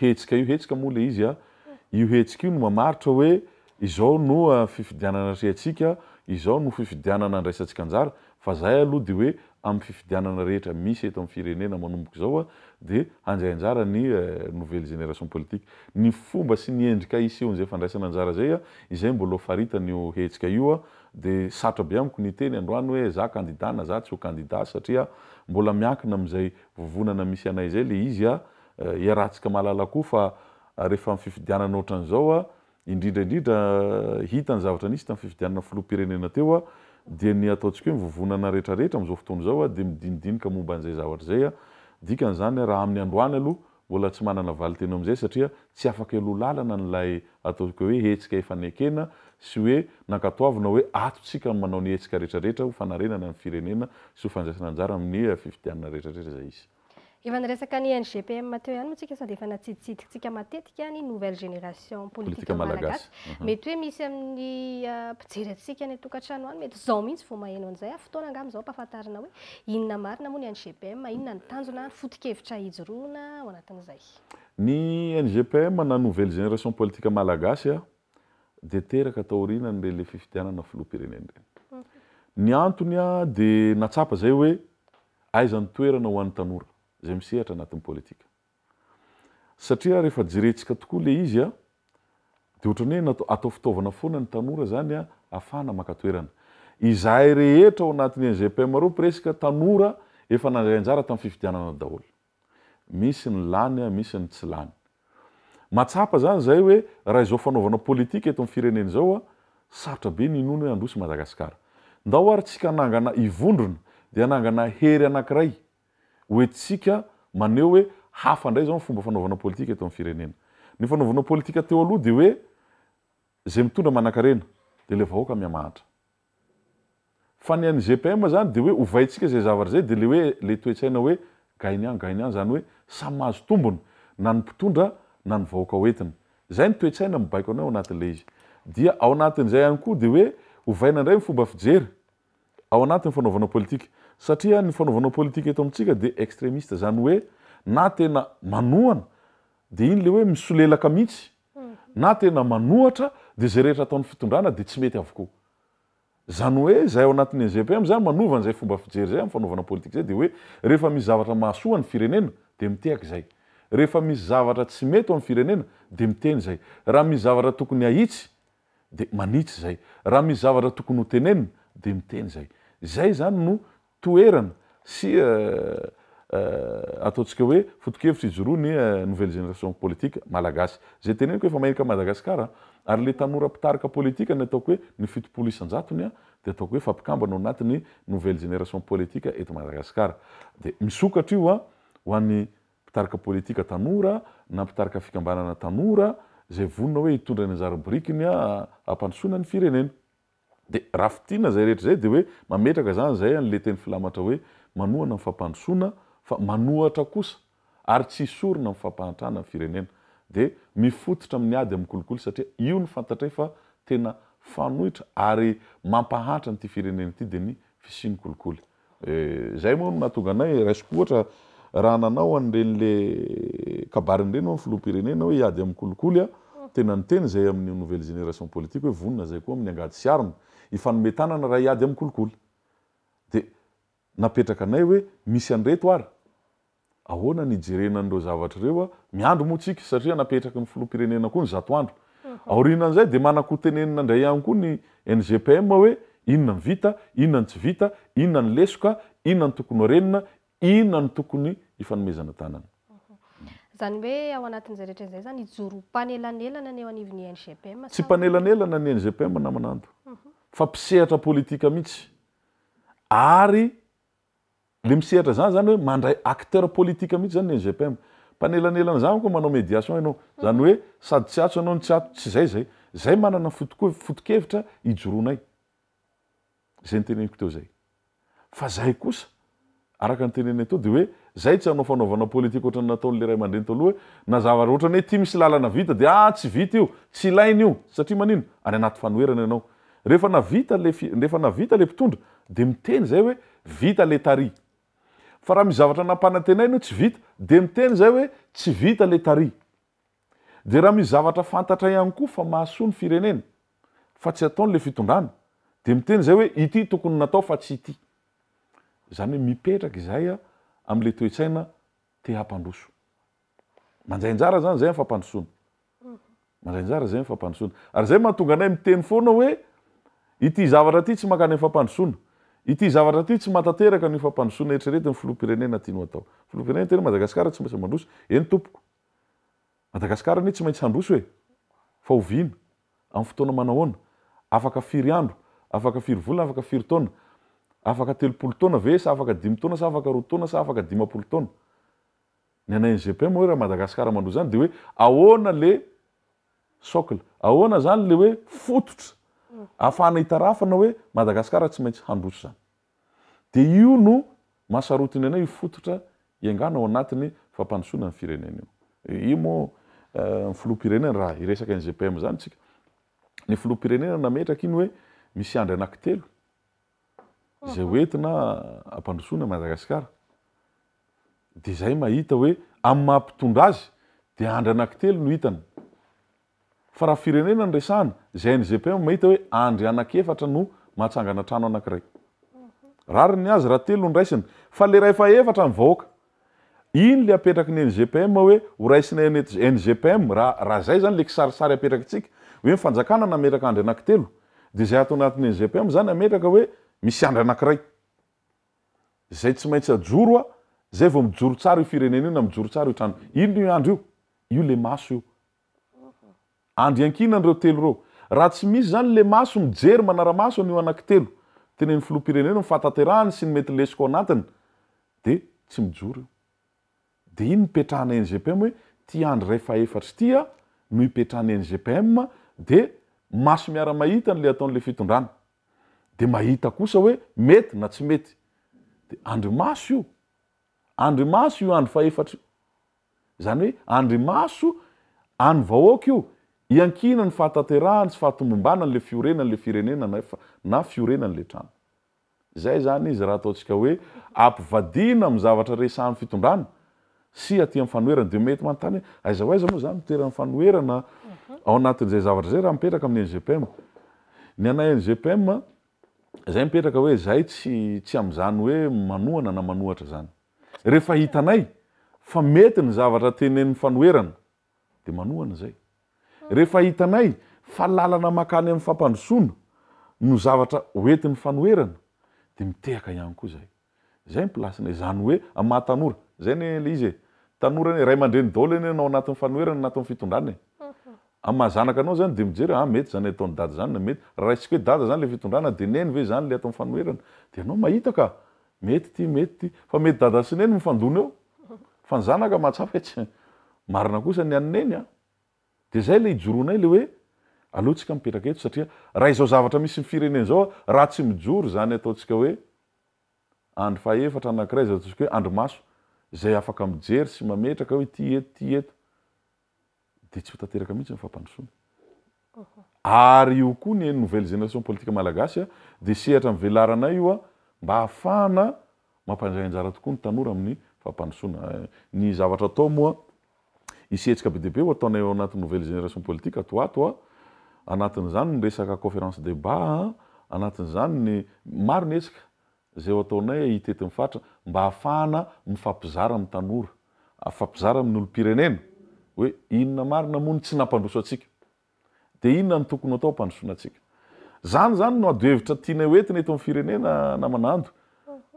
Hetsika io hetsika moa le izy a! Io hetsika io no mamaritra hoe izao no fifidianana atrehantsika, izao no fifidianana andraisantsika anjara, fa zay aloha de hoe amin'ny fifidianana rehetra misy eto amin'ny firenena manomboka izao a! de handray anjara ny nouvelle génération politique. Ny fomba sy ny endrika hisehoan'izay fandraisana anjara izay a! izay mbola ho faritan'io hetsika io a! de sarotra be amiko ny hiteny androany hoe za kandida na za tsy ho kandida satria mbola miankina amin'izay vovonana misy anay zay le izy a, iarahantsika mahalala koa fa rehefa am fifidianana ohatran'izao a, indrindra indrindra hita ny zavatra nisy tam fifidianana filoham-pirenena teo a, dia ny ataontsika hoe ny vovonana rehetra rehetra amzao fotoana izao a dia midinidinika momba an'izay zavatra izay a, dikan'izany a raha amin'ny androany aloha Mbola tsy manana valinteny eo amin'izay satria tsy afaka hialoha lalana an'ilay ataontsika hoe hetsika efa nekena sy hoe nankatoavina hoe ato tsika no manao ny hetsika rehetra rehetra ho fanarenana ny firenena sy ho fandraisana anjara amin'ny fifidianana rehetra rehetra izay hisy. Efa niresaka ny NGPM teo ihany moa tsika sady efa natsiditsidintsika matetika ny nouvelle génération politique malagasy. Mety hoe misy amin'ny mpijery antsika any an-tokantrano any mety izao mihitsy vao maheno an'izay, fotoana angamba izao ampahafantarina hoe Inona marina moa ny NGPM, inona ny tanjona ary foto-kevitra ijoroana ao anatin'izay? Ny NGPM na Nouvelle Génération Politique Malagasy dia teraka taorianan'ireny le fifidianana filoham-pirenena ireny. Ny antony dia natsapa izay hoe aiza ny toerana ho an'ny tanora izay misehatra anatin'ny politika. Satria rehefa jerentsika tokoa ilay izy a, dia ohatran'ny hoe natao atao fitaovana foana ny tanora izany a, afahana maka toerana. Izahay rehetra ao anatin'ny GPM reo presque tanora efa nandray anjara tamin'ny fifidianana daholo. Misy ny lany a, misy ny tsy lany. Mahatsapa izany izahay hoe raha izao fanaovana politika eto amin'ny firenena izao a, sarotra be ny hinoana hoe handroso i Madagasikara. Ndao ary tsika hanangana, hivondrona dia hanangana hery anankiray Hoe tsika maneho hoe hafa indray izao ny fomba fanaovana politika eto amin'ny firenena. Ny fanaovana politika teo aloha dia hoe izay mitondra manankarena, dia ilay vahoaka mihamahantra. Fa ny an'ny GPM izany dia hoe ovaintsika izay zavatra izay dia ilay hoe ilay toe-tsaina hoe gagnant gagnant izany hoe samy mahazo tombony na ny mpitondra na ny vahoaka hoentina. Izay ny toe-tsaina mibaiko anay ao anatin'ilay izy. Dia ao anatin'izay ihany koa dia hoe ovaina indray ny fomba fijery. ao anatin'ny fanaovanao politika. Satria ny fanaovanao politika eto amintsika dia extremiste, izany hoe na tena manohana dia iny ilay hoe misolelaka mihitsy, na tena manohatra dia izay rehetra ataon'ny fitondrana dia tsy mety avokoa. Izany hoe izahay ao anatin'ny NGPM izany manova an'izay fomba fijery izay amin'ny fanaovana politika izay dia hoe rehefa misy zavatra mahasoa ny firenena dia mitehaka izay. Rehefa misy zavatra tsy mety ho an'ny firenena dia miteny izay. Raha misy zavatra tokony hahitsy dia manitsy izay. Raha misy zavatra tokony ho tenenina dia miteny izay. Izay izany no toerana sy ataontsika hoe foto-kevitra ijoroan'ny nouvelle génération politique malagasy. Izay teneniko efa maherika an'i Madagasikara ary ilay tanora mpitarika politika ny ataoko hoe ny fitopolo isan-jatony dia ataoko hoe fa mpikambana ao anatin'ny nouvelle génération politique eto Madagasikara. Dia misokatra io ho an'ny mpitarika politika tanora na mpitarika fikambanana tanora izay vonona hoe hitondra ny anjara birikiny hampandrosoana ny firenena. Dia raha fintinina izay rehetra izay dia hoe mametraka izany izay an'ilay teny filamatra hoe manohana ny fampandrosoana fa manohatra kosa ary tsy hisorona amin'ny fampahantrana ny firenena. Dia mifototra amin'ny ady amin'ny kolikoly satria io no fantatray fa tena fanoitra ary mampahantra an'ity firenena ity dia ny fisian'ny kolikoly. Izay moa no nahatonga anay, raisiko ohatra, raha nanao an'ireny le kabariny ireny hono filoham-pirenena hoe hiady amin'ny kolikoly a, tena niteny izay amin'ny nouvelle génération politique hoe vonona izay koa amin'ny angady sy arina, hifanome tanana raha hiady amin'ny kolikoly. Dia napetraka anay hoe misy an'ireto ary. Ahoana ny hijerena an'ireo zavatra ireo? Miandry moa tsika satria napetraky ny filoham-pirenena koa ny zato andro. Aorianan'izay dia manan-ko tenenina indray ihany koa ny NGPM hoe inona ny vita, inona ny tsy vita, inona ny lesoka, inona ny tokony ho renina, inona no tokony hifanomezana tanana. Izany hoe ao anatin'izay rehetra izay izany hijoro mpanelanelana ny eo anivon'ny NGPM sa? Tsy mpanelanelana ny NGPM namanando fa mpisehatra politika mihitsy ary Le misehatra zany zany hoe mandray acteur politique mihitsy zany ny SGPM. Mpanelanelana zany manko manao médiation ianao. Zany hoe sady tsy ato ianao no tsy ato, tsy zay zay. Zay manana foto-kevitra, foto-kevitra ijoroanay. Zay niteneniko teo zay. Fa zay kosa, araka ny tenenay teo de hoe zay tsy hanao fanaovana politique ohatran'ny nataon'le ray aman-dreny teo aloha hoe na zavatra ohatran'ny hoe ity misy lalana vita de ah tsy vita io, tsy ilaina io, satria manino? Any anaty fanoherana ianao. Rehefa navita le rehefa navita le mpitondra de miteny zay hoe vita le tary. Fa raha misy zavatra nampanantenainy hoe tsy vita de miteny zay hoe tsy vita le tary. De raha misy zavatra fantatra ihany koa fa mahasoa ny firenena fa tsy ataony le fitondrana de miteny zay hoe ity tokony natao fa tsy ity. Zany hoe mipetraka izahay am le toe-tsaina te hampandroso. Mandray anjara zany zay am fampandrosoana. Mandray anjara zay am fampandrosoana. Ary zay mahatonga anay miteny foana hoe ity zavatra ity tsy mankany am fampandrosoana. Ity zavatra ity tsy mahatanteraka an'io fampandrosoana eritreretin'ny filoham-pirenena tiany ho atao. Filoham-pirenena tena hoe Madagasikara tsy maintsy mandroso. Eny tompoko. Madagasikara anie tsy maintsy handroso e. Fa oviana? Am fotoana manahoana? Afaka firy andro? Afaka firy volana? Afaka firy taona? Afaka telopolo taona ve sa afaka dimy taona sa afaka roa taona sa afaka dimampolo taona? Ny anay NGPM hoe raha Madagascar mandrohy izany dia hoe ahoana le socle, ahoana izany le hoe fototra ahafahana hitarafana hoe Madagascar tsy maintsy handroso izany. Dia io no mahasarotiny anay io fototra hiaingàna ao anatiny fampandrosoana ny firenena io. Io moa ny filoham-pirenena raha hiresaka NGPM izany isika, ny filoham-pirenena nametraka iny hoe misy andry anankitelo, izay ho entina hampandrosoana Madagasikara dia izay mahita hoe amin'ny maha mpitondra azy dia Andry Anakitelo no hitany fa raha firenena no resahana izay ny GPM mahita hoe Andry Anakefatra no mahatsangana trano anankiray rariny azy raha telo no raisina fa le rahefa efatra ny vahoaka Iny le apetraky ny NGPM hoe ho raisina eny NGPM raha raha zay zany le kisarisary apetrakintsika hoe ny fanjakana nametraka andry anakitelo de zay ato anatin'ny NGPM zany ametraka hoe misy andry anakiray zay tsy maintsy ajoro a zay vao mijoro tsara io firenena io na mijoro tsara io trano iny io andry io io le maso io Andry iankinany ireo telo ireo. Raha tsy misy izany le maso mijery manaramaso an'io anakitelo tenenin'ny filoham-pirenena ny fahatanterahany sy ny mety lesoka ao anatiny dia tsy mijoro io. Dia iny nipetrahana NGPM hoe ity Andry iray fahaefatra ity a no ipetrahan'ny NGPM dia maso miara-mahita an'ilay ataon'ilay fitondrana. Dia mahita kosa hoe mety na tsy mety. Dia Andry maso io. Andry maso io Andry fahaefatra io. Izany hoe andrimaso an'ny vahoaka io. Iankiana ny fahatanterahany sy fahatomombanan'ilay fiorenana, ilay firenena na efa na fiorenana ilay trano. Izay izany izy raha ataontsika hoe ampivadiana amin'ny zavatra resahan'ny fitondrana sy aty amin'ny fanoherana. Dia mety manontany hoe aiza ho aiza moa izany no toeran'ny fanoherana ao anatin'izay zavatra izay raha mipetraka amin'ny NGPM. Ny anay NGPM izay mipetraka hoe izay tsy tsy amin'izany hoe manohana na manohatra izany. Rehefa hitanay fa mety ny zavatra tenenin'ny fanoherana, dia manohana izay. Rehefa hitanay fa lalana mankany amin'ny fampandrosoana no zavatra hoentin'ny fanoherana, dia mitehaka ihany koa izay. Izay ny plasinay. Izany hoe amin'ny maha tanora. Izay anie ilay izy e. Tanora anie, ray aman-dreny daholo anie na ao anatin'ny fanoherana na anatin'ny fitondrana e. Amin'ny maha zanaka anao izany dia mijery hoe, ah, mety izany ataon'i dada izany na mety. Raha raisiko hoe dada izany ilay fitondrana dia neny ve izany ilay ato amin'ny fanoherana? Dia ianao mahita ka Mety ity, mety ity. Fa mety dada sy neny mifandona eo. Fa ny zanaka mahatsapa hoe tsy marina kosa ny an'i neny an! Dia izay ilay ijoroanay ilay hoe aleontsika mipetraka eto satria raha izao zavatra misy ny firenena izao raha tsy mijoro izany ataontsika hoe andry fahefatra anankiray izay ataontsika hoe andry maso izay afaka mijery sy mametraka hoe ity eto, ity eto. dia tsy ho tanteraka mihitsy ny fampandrosoana. Ary io koa ny nouvelle génération politique malagasy dia sehatra nivelaranay io mba hahafahana mampandray anjara tokoa ny tanora amin'ny fampandrosoana. Ny zavatra atao moa, hisy hetsika be dia be ho ataonay ao anatin'ny nouvelle génération politique ato ho ato, anatin'izany ny resaka conférence débat, anatin'izany ny, maro ny hetsika Izay ho ataonay ahita eto amin'ny faritra mba ahafahana mifampizara amin'ny tanora, afampizara amin'ny olom-pirenena hoe inona marina moa no tsy nampandroso antsika. Dia inona no tokony ho atao hampandrosoana antsika. Izany izany no adohevitra tianay ho entina eto amin'ny firenena namana Ando.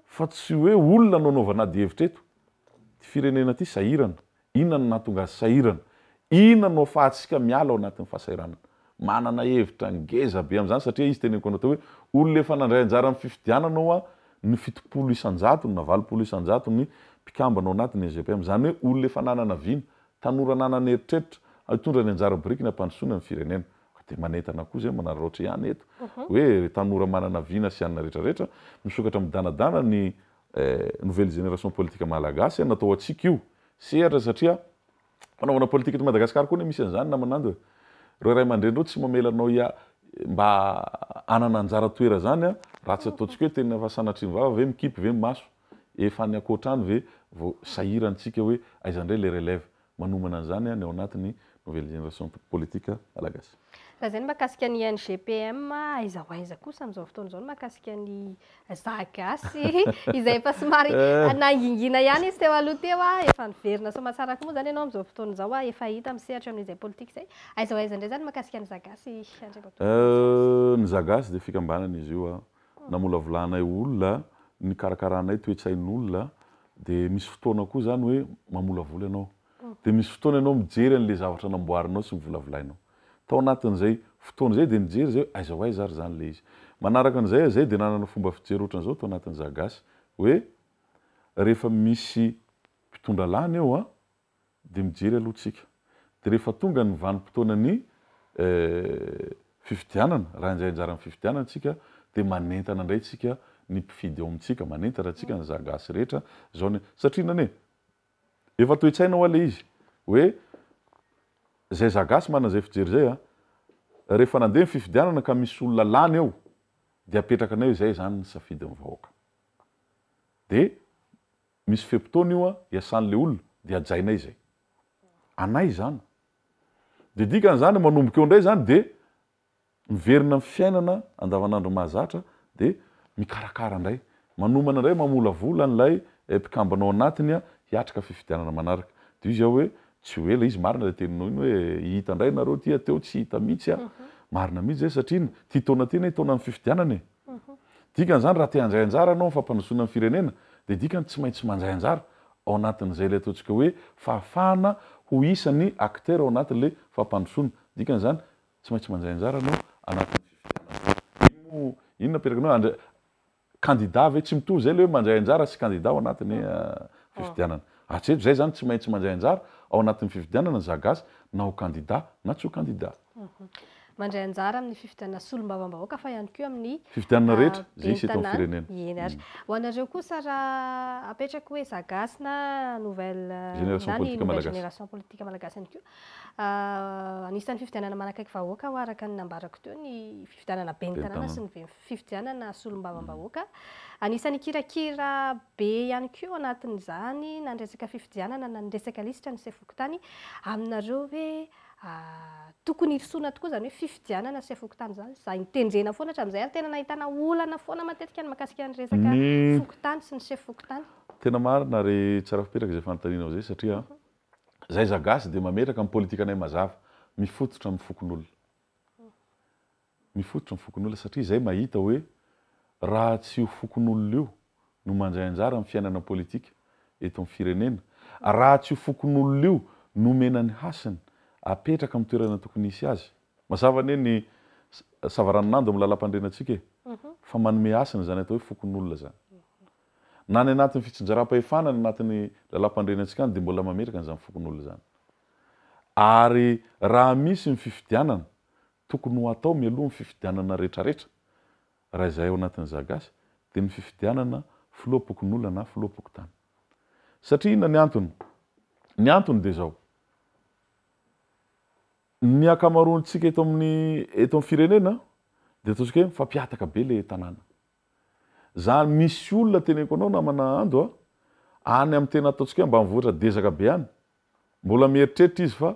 Fa tsy hoe olona no anaovana adihevitra eto. Ity firenena ity sahirana. Inona no nahatonga azy sahirana? Inona no afahantsika miala ao anatin'ny fahasahiranana? Manana hevitra ngeza be amin'izany satria izy teny am-ponao teo hoe, Olona efa nandray anjara amin'ny fifidianana ao an, ny fitopolo isan-jatony na valopolo isan-jatony mpikambana ao anatin'ny EGPM. Izany hoe olona efa nanana vina, tanora nanana eritreritra hitondra ny anjara biriky ny hampandrosoana ny firenena. Ka dia manentana koa izay manararaotra ihany eto hoe, ry tanora manana vina sy anona rehetra rehetra, misokatra midanadana ny Eh, nouvelle génération politique malagasy no atao antsika io. Sehatra satria fanaovana politika eto Madagascar koa anie misy an'izany namanando e. Reo ray aman-drenireo tsy mamela anao hia mba hanana anjara toera zany a, raha tsy ataontsika hoe tena efa sanatrin'ny vava ve mikipy ve ny maso, efa any ankoatrany ve vao sahirana tsika hoe aiza ndray le relève. manomana an'izany ny ao anatin'ny nouvelle génération politique Malagasy. Raha izay ny mahakasika ny NGPM, aiza ho aiza kosa amin'izao fotoana izao ny mahakasika ny Zaza Gasy izay efa somary nangingina ihany izy teo aloha teo, efa niverina soamatsara koa moa izany ianao amin'izao fotoana izao efa hita misehatra eo amin'izay politika izay, aiza ho aiza indray izany ny mahakasika ny Zaza Gasy Andriamatoa François? Ny Zaza Gasy dia fikambanana izy io namolavolanay olona, nikarakaranay toe-tsain'olona, dia misy fotoana koa izany hoe mamolavola ianao, dia misy fotoana ianao mijery an'ilay zavatra namboarinao sy novolavolainao. Tao anatin'izay fotoana izay dia nijery izay hoe aiza ho aiza ary izany ilay izy. Manaraka an'izay aho izay dia nanana fomba fijery ohatran'izao tao anatin'izagasy hoe rehefa misy mpitondra lany eo an! dia mijery aloha tsika, dia rehefa tonga ny vanim-potoanan'ny fifidianana, raha indray anjaran'ny fifidianana tsika, dia manentana indray tsika ny mpifidy ao amintsika, manentana tsika ny za gasy rehetra, zao ny, satria inona anie? efa toe-tsaina hoa ilay izy, hoe izay za gasy manana izay fijery izay an, rehefa nandeha ny fifidianana ka misy olona lany eo, dia apetrakanay hoe izay izany ny safidin'ny vahoaka, dia Misy fe-potoana io an, iasan'ilay olona dia hajainay izay. Anay izany. Dia dikan'izany manomboka eo indray izany dia miverina amin'ny fiainana andavanandro mahazatra dia mikarakara indray. Manomana indray mamolavola an'ilay mpikambana ao anatiny hiatrika fifidianana manaraka. Dia io izay hoe tsy ho ela izy, marina ilay teninao iny hoe hihita indray nareo ity an, teo tsy hita mihitsy an. Marina mihitsy izay satria iny, ity taona ity anie taonan'ny fifidianana e. Dikan'izany raha te handray anjara ianao amin'ny fampandrosoana ny firenena dia dikany tsy maintsy mandray anjara ao anatin'izay ilay ataontsika hoe fahafahana ho isan'ny acteur ao anatin'ilay fampandrosoana. Dikan'izany tsy maintsy mandray anjara ianao anatin'ny fifidianana. Iny moa iny no aperakany hoe candidat ve? Tsy mitovy izay ilay hoe mandray anjara sy candidat ao anatin'ny fifidianana. Hatreto izay izany tsy maintsy mandray anjara ao anatin'ny fifidianana ny zagasy na ho candidat na tsy ho candidat. Mandray anjara amin'ny fifidianana solombavambahoaka fa ihany koa amin'ny fifidianana rehetra izay hisy eto amin'ny firenena. Eny ary. Ho anareo kosa raha apetraka hoe za gasy na nouvelle na ny nouvelle génération politique malagasy ihany koa, anisan'ny fifidianana manakaiky vahoaka ho'a araka ny nambarako teo ny fifidianana ben'ny tanàna sy ny fifidianana solombavambahoaka. Anisan'ny hikirakira be ihany koa ao anatin'izany na ny resaka fifidianana na ny resaka lisitra ny sefo fokontany aminareo hoe tokony hirosoana tokoa izany hoe fifidianana sy fokontany izany. Izay notendrena foana hatramin'izay ary tena nahitana olana foana matetika ny mahakasika ny resaka fokontany sy ny sefo fokontany. Tena marina ry Tsarafipetraka izay fanontanianao izay satria izay zagasy dia mametraka ny politikanay mazava, mifototra amin'ny fokonolona. ny fototry ny fokonolona satria izay mahita hoe raha tsy io fokonolona io no mandray anjara amin'ny fiainana politika eto amin'ny firenena, raha tsy io fokonolona io no omena ny hasiny apetraka amin'ny toerana tokony hisy azy. Mazava anie ny savaranonando amin'ny lalampandrianantsika e! fa manome hasina izany atao hoe fokonolona izany. Na any anatin'ny fitsinjaram-pahefana any anatin'ny lalampandrianantsika any dia mbola mametraka an'izany fokonolona izany. Ary raha misy ny fifidianana Tokony ho atao mialoha ny fifidianana retraretra, raha izahay ao anatin'ny Zagasy, dia ny fifidianana filoham-pokonolona na filoham-pokontany. Satria inona ny antony? Ny antony dia izao, ny ankamaroantsika eto amin'ny eto amin'ny firenena dia ataontsika hoe mifampihataka be ilay tanàna. Zany misy olona teneniko anao namana Ando a, any amin'ny tena ataontsika hoe ambanivohitra dezaka be any, mbola mieritreritra izy fa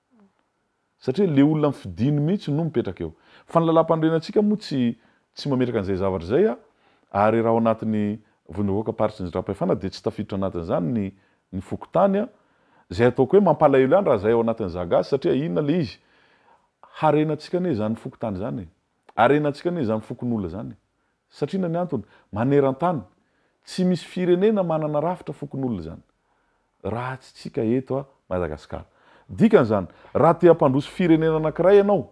Satria le olona fidiny mihitsy no mipetraka eo. Fa ny lalàmpanorenantsika moa tsy tsy mametraka an'izay zavatra izay a! Ary raha ao anatin'ny Vondrom-bahoaka Paritry ny Radrampahefana dia tsy tafiditra anatin'izany ny ny fokontany a! Izay ataoko hoe mampalahelo ihany raha izay ao anatin'ny za gasy satria inona le izy? Harenantsika anie izany fokontany izany e! Harenantsika anie izany fokonolona izany e! Satria na ny antony, maneran-tany, tsy misy firenena manana rafitra fokonolona izany, raha tsy tsika eto Madagasikara. Dikany izany, raha te hampandroso firenena anankiray ianao,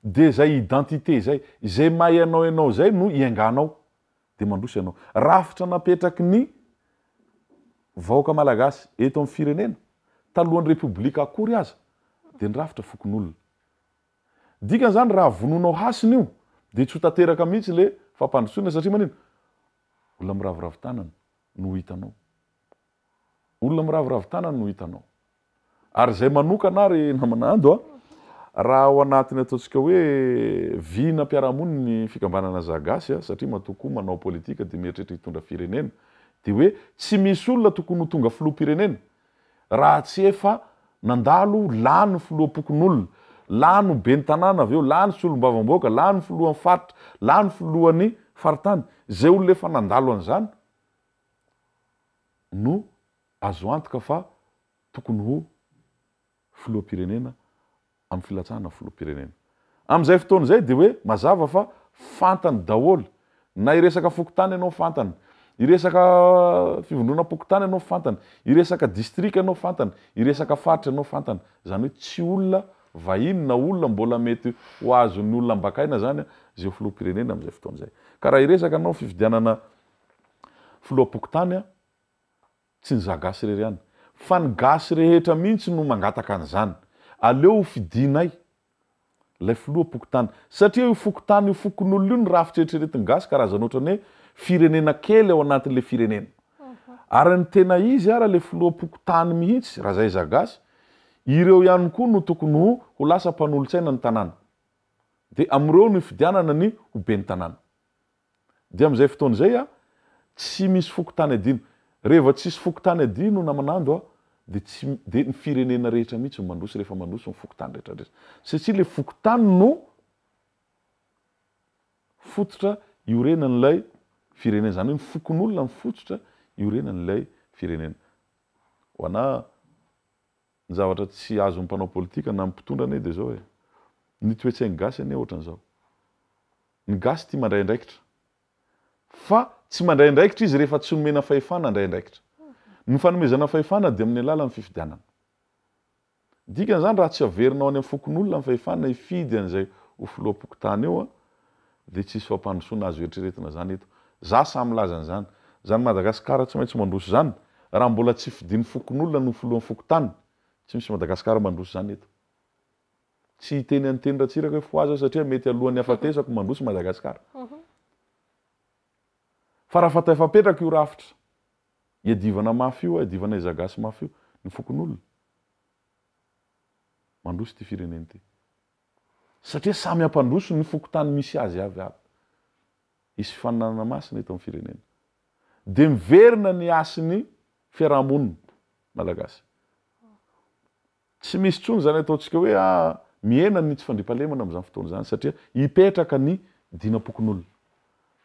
dia izay identité izay, izay maha ianao ianao izay no ienganao, dia mandroso ianao. Rafitra napetraky ny vahoaka malagasy eto amin'ny firenena, talohan'ny Repoblika akory aza, dia ny rafitra fokonolona. Dikany zany raha vonoinao hasina io dia tsy ho tanteraka mihitsy le fampandrosoana satria manino? Olona miraviravy tanana no hitanao. Olona miraviravy tanana no hitanao. Ary izay manokana ary namana Ando a, raha ao anatin'ny ataontsika hoe vina mpiarahamonina ny fikambanana Za Gasy a, satria matoa koa manao politika dia mieritreritra hitondra firenena, dia hoe tsy misy olona tokony ho tonga filoham-pirenena, Raha tsy efa nandalo lany filoham-pokonolona, lany ben'ny tanàna avy eo, lany solombavambahoaka, lany filohan'ny faritra, lany filohan'ny faritany, izay olona efa nandalo an'izany no azo antoka fa tokony ho. filoham-pirenena amin'ny filatsahana filoham-pirenena. Amin'izay fotoana izay dia hoe mazava fa fantany daholo, na hiresaka fokontany ianao fantany, hiresaka fivondronam-pokontany ianao fantany, hiresaka distrika ianao fantany, hiresaka faritra ianao fantany. Izany hoe tsy olona vahiny na olona mbola mety ho azon'ny olona ambakaina izany izay ho filoham-pirenena amin'izay fotoana izay. Ka raha hiresaka ianao fifidianana filoham-pokontany Tsy ny za gasy irery ihany fa ny gasy rehetra mihitsy no mangataka an'izany. Aleo ho fidianay ilay filoham-pokontany. Satria io fokontany io, fokonolona io no rafitry eritreretin'ny gasy karazana ohatran'ny hoe firenena kely ao anatin'ilay firenena. Ary ny tena izy ary ilay filoham-pokontany mihitsy raha izay za gasy, ireo ihany koa no tokony ho ho lasa mpanolontsaina ny tanàna. Dia amin'ireo no hifidianana ny ho ben'ny tanàna. Dia amin'izay fotoana izay a, tsy misy fokontany adino. Reheva tsisy fokontany adino namanando a, dia tsy, dia ny firenena rehetra mihitsy no mandroso rehefa mandroso ny fokontany rehetra rehetra. Satria ilay fokontany no fototra iorenan'ilay firenena. Izany hoe ny fokonolona no fototra iorenan'ilay firenena. Ho anà. Ny zavatra tsy azon'ny mpanao politika na ny mpitondra anie dia izao e! Ny toe-tsain'ny gasy anie ohatran'izao. Ny gasy tia mandray andraikitra. Fa tsy mandray andraikitra izy rehefa tsy nomena fahefana handray andraikitra. Ny fanomezana fahefana dia amin'ny alalan'ny fifidianana. Dikan'izany raha tsy averina ao any amin'ny fokonolona ny fahefana hifidy an'izay ho filoham-pokontany eo dia tsisy fampandrosoana azo eritreretina zany eto. Za sahy milaza an'izany. Zany Madagascar tsy maintsy mandroso zany. Raha mbola tsy fidin'ny fokonolona no filohan'ny fokontany, tsy misy Madagascar mandroso zany eto. Tsy hiteny an'iteny Ratsiraka hoe fohaza aho satria mety alohan'ny hafatesako mandroso Madagascar. Fa raha fataifampetraka io rafitra iadivana mafy io, iadivana izagasy mafy io, ny fokonolona, mandroso ity firenena ity. Satria samy hampandroso ny fokontany misy azy avy avy. Hisy fifaninanana masina eto amin'ny firenena. Dia miverina ny hasin'ny fiaraha-monina malagasy. Tsy misy intsony izany ataontsika hoe a, mihena ny tsy fandriampahalemana amin'izany fotoana izany satria hipetraka ny dinam-pokonolona.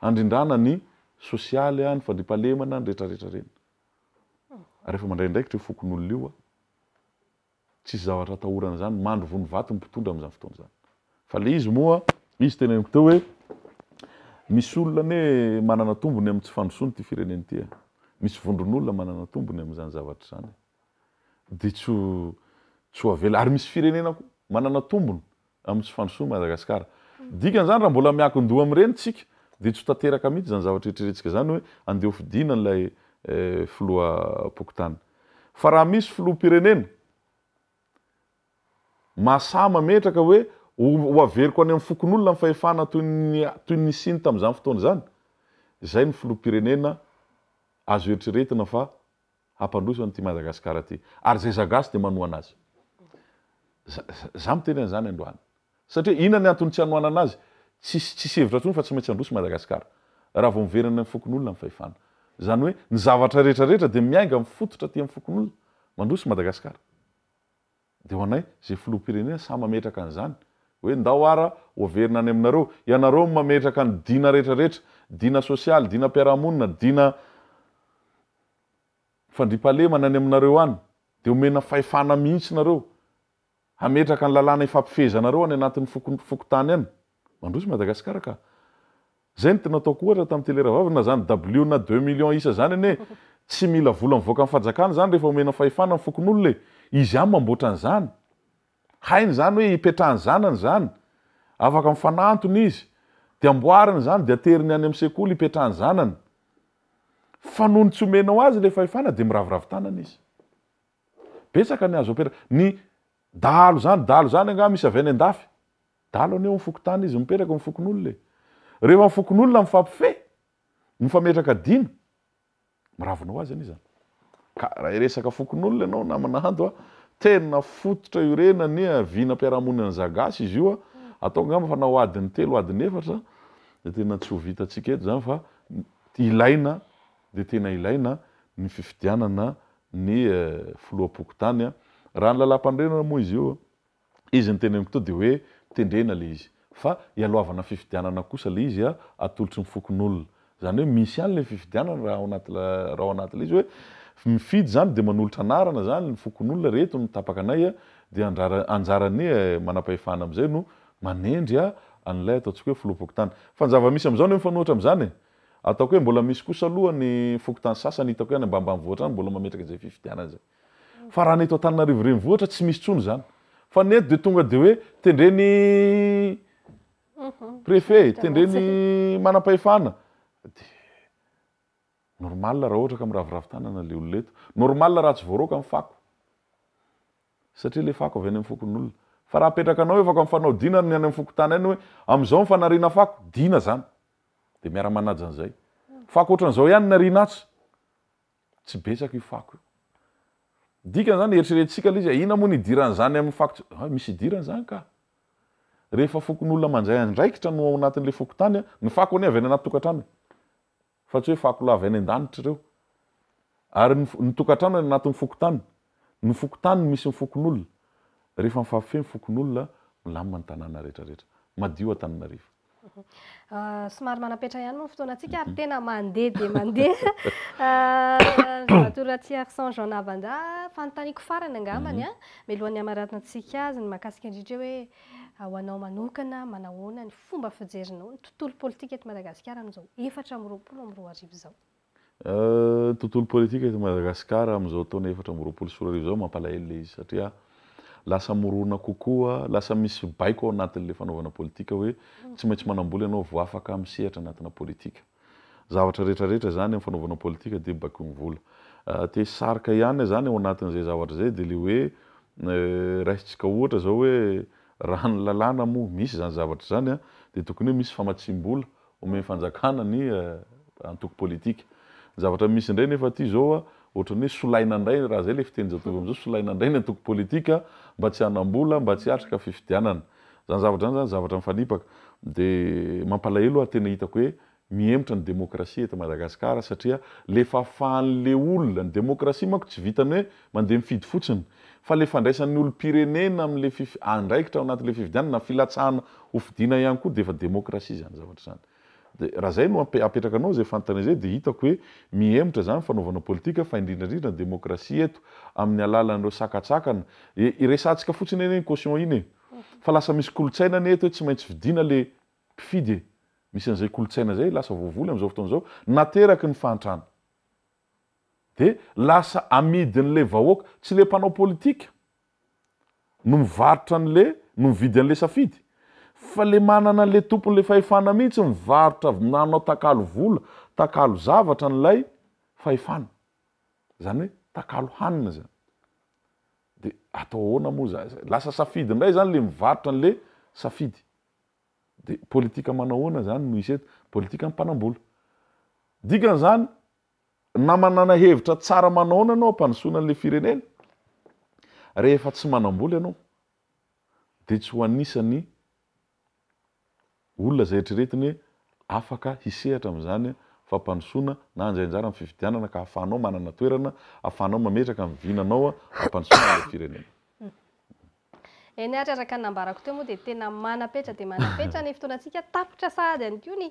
Handrindrana ny sosialy, ny fandriampahalemana, ny rehetra rehetra ireny. Ary efa mandray andraikitra io fokonolona io a. Tsisy zavatra atahorana izany, mandry vono vato ny mpitondra amin'izany fotoana izany. Fa ilay izy moa, izy teneniko teo hoe misy olona anie manana tombony amin'ny tsy fandrosoana ity firenena ity e. Misy vondron'olona manana tombony amin'izany zavatra izany e. Dia tsy ho, tsy ho avela, ary misy firenena koa manana tombony amin'ny tsy fandrosoan'i Madagasikara. Dikan'izany raha mbola miankin-doha amin'ireny isika dia tsy ho tanteraka mihitsy izany zavatra eritrerentsika izany hoe andeha ho fidiana ilay filoham-pokontany. Fa raha misy filoham-pirenena mahasahy mametraka hoe ho averiko any amin'ny fokonolona ny fahefana toy ny toy ny nisiany tamin'izany fotoana izany, izay no filoham-pirenena azo eritreretina fa hampandroso an'ity Madagasikara ity. Ary izay zagasy dia manohana azy. Izaho miteny an'izany androany. Satria inona ny antony tsy hanohanana azy? Tsisy tsisy hevitra intsony fa tsy maintsy handroso i Madagasikara. Raha vao miverina any amin'ny fokonolona ny fahefana. Izany hoe ny zavatra rehetra rehetra dia miainga amin'ny fototra aty amin'ny fokonolona. Mandroso i Madagasikara. Dia ho anay, izay filoham-pirenena samy mametraka an'izany, hoe ndao ara ho averina any aminareo. Ianareo no mametraka ny dina rehetra rehetra, dina sosialy, dina mpiarahamonina, dina fandriampahalemana any aminareo any. Dia omena fahefana mihitsy nareo hametraka ny lalàna hifampifehezanareo any anatin'ny fokontany any. Mandroso Madagascar ka. Zay no tena ataoko ohatra tam tele rahavavy na zany dabilio na deux millions isa zany anie tsy mila vola mivoaka am fajakana zany rehefa omena fahefana ny fokonolona e izy ihany mamboatra anzany hainy zany hoe ipetrahany zanany zany afaka mifanantona izy de amboariny zany de ateriny any am sekoly ipetrahany zanany fa noho ny tsy omenao azy le fahefana de miraviravy tanana izy betsaka ny azo apetraka ny dahalo zany dahalo zany angaha misy avy any andafy Dalo anie eo amin'ny fokontany izy mipetraka eo amin'ny fokonolona e! Rehefa ny fokonolona mifampifehy, mifametraka dina, miravona ho azy anie izany. Ka raha hiresaka fokonolona ianao namana Hando a, tena fototra iorenana ny vinam-piarahamoninan'ny Zagasy izy io a, ataoko angamba fa na ho adiny telo ho adiny efatra dia tena tsy ho vitantsika eto izany fa ilaina dia tena ilaina ny fifidianana ny filoham-pokontany a. Raha ny lalam-panorenana moa izy io Izy niteny amiko teo dia hoe, Tendrena ilay izy. Fa ialohavana fifidianana kosa ilay izy atolotry ny fokonolona. Izany hoe misy ihany ilay fifidianana raha ao anaty raha ao anaty ilay izy hoe mifidy izany dia manolotra anarana izany ny fokonolona, ireto no tapaka anay dia anjara anjaran'ny manam-pahefana amin'izay no manendry an'ilay ataontsika hoe filoham-pokontany. Fa ny zava-misy amin'izao anie mifanohitra amin'izany e! Ataoko hoe mbola misy kosa aloha ny fokontany sasany hitako hoe any ambanimbanivohitra any mbola mametraka izay fifidianana izay. Fa raha ny eto Antananarivo renivohitra tsy misy tsony zany. Fa ny eto dia tonga dia hoe tendreny préfet, tendreny manam-pahefana. Dia normal raha ohatra ka miraviravy tanana ilay olona eto. Normal raha tsy voaroaka ny fako. Satria ilay fako avy any amin'ny fokonolona. Fa raha apetrakanao efa ka mifanao dina ny any amin'ny fokontany any hoe amin'izao ny fanariana fako, dina zany. Dia miara-manaja an'izay. Fako ohatran'izao ihany ny ariana atsy. Tsy betsaka io fako io. Ny dikany izany, eritreretintsika ilay izy hoe inona moa ny idiran'izany amin'ny fako tsy, hay misy idirany izany kah! Rehefa fokonolona mandray andraikitra no ao anatin'ilay fokontany, ny fako anie avy any anaty tokantrano e! fa tsy hoe fako lahy avy any an-danitra ireo. Ary ny, ny tokantrano any anatin'ny fokontany, ny fokontany no misy ny fokonolona. Rehefa mifampi-feno fokonolona, milamina ny tanàna rehetra rehetra. Madio Antananarivo. Somary manam-petra ihany moa ny fotoanantsika ary tena mandeha dia mandeha. Andriamatoa Ratsiharisoa Jean Navanda, fanontaniako farany angambany mhm. mialohan'ny hamaranana antsika azy ny mahakasika indrindra hoe ho anao manokana manahoana ny fomba fijerinao ny tontolo politika eto Madagasikara amin'izao efatra amby roapolo amby roa arivo izao. Tontolo politika eto Madagasikara amin'izao taona efatra amby roapolo sy roa arivo izao, mampalahelo ilay izy satria lasa mirona kokoa, lasa misy baiko ao anatin'ilay fanaovana politika hoe tsy maintsy manam-bola ianao vao afaka misehatra anatina politika. Zavatra rehetra rehetra izany amin'ny fanaovana politika dia baikoin'ny vola. Te hisarika ihany izany ao anatin'izay zavatra izay dia ilay hoe raisintsika ohatra izao hoe raha ny lalàna moa misy izany zavatra izany dia tokony hoe misy famatsiam-bola Omen'ny fanjakana ny antoko politika. Ny zavatra misy indray nefa aty izao, ohatran'ny hoe solaina indray, raha izay ilay fitenin-jatovo amin'izao, solaina indray ny antoko politika mba tsy hanam-bola, mba tsy hiatrika fifidianana. Izany zavatra izany izany zavatra mifanipaka. Dia mampalahelo ary tena hitako hoe mihemotra ny demokrasia eto Madagasikara satria lefafàn'ilay olona. Ny demokrasia manko tsy vitan'ny hoe Mandeha mifidy fotsiny. Fa ilay fandraisan'ny olom-pirenena amin'ilay fif, andraikitra ao anatin'ilay fifidianana, filatsahana ho fidiana ihany koa dia efa demokrasia izany zavatra izany. Dia raha izay no ampe, apetrakanao izay fanontaniana izay dia hitako hoe mihemotra izany ny fanaovana politika fa indrindra indrindra ny demokrasia eto amin'ny alalan'ireo sakatsakana e, iresahantsika fotsiny anie iny caution iny e. Fa lasa misy kolontsaina anie eto hoe tsy maintsy fidiana ilay mpifidy e. Misy an'izay kolontsaina izay lasa voavoly amin'izao fotoana izao nateraky ny fahantrana. Dia lasa amidin'le vahoaka, tsy le mpanao politika no mivarotra an'le, no mividy an'le safidy, fa le manana an'le tompon'le fahefana mihitsy mivarotra avy nanao takalo vola, takalo zavatra an'ilay fahefana. Zany hoe takalo hanina zany. Dia atao ahoana moa zany zay? Lasa safidy indray zany le mivarotra an'le safidy. Dia politika manao ahoana zany no hisy eto? Politikan'ny mpanambola. Dikan'izany, Na manana hevitra tsara manaona ianao hampandrosoana an'ilay firenena, rehefa tsy manam-bola ianao, dia tsy ho anisan'ny olona izay eritreretina hoe afaka hisehatra amin'izany fampandrosoana na handray anjara amin'ny fifidianana ka hahafahanao manana toerana, hahafahanao mametraka ny vinanao hampandrosoana an'ilay firenena. Eny ary araka ny nambarako teo moa dia tena manapetra dia manapetra ny fotoanantsika, tapitra sahady ihany koa ny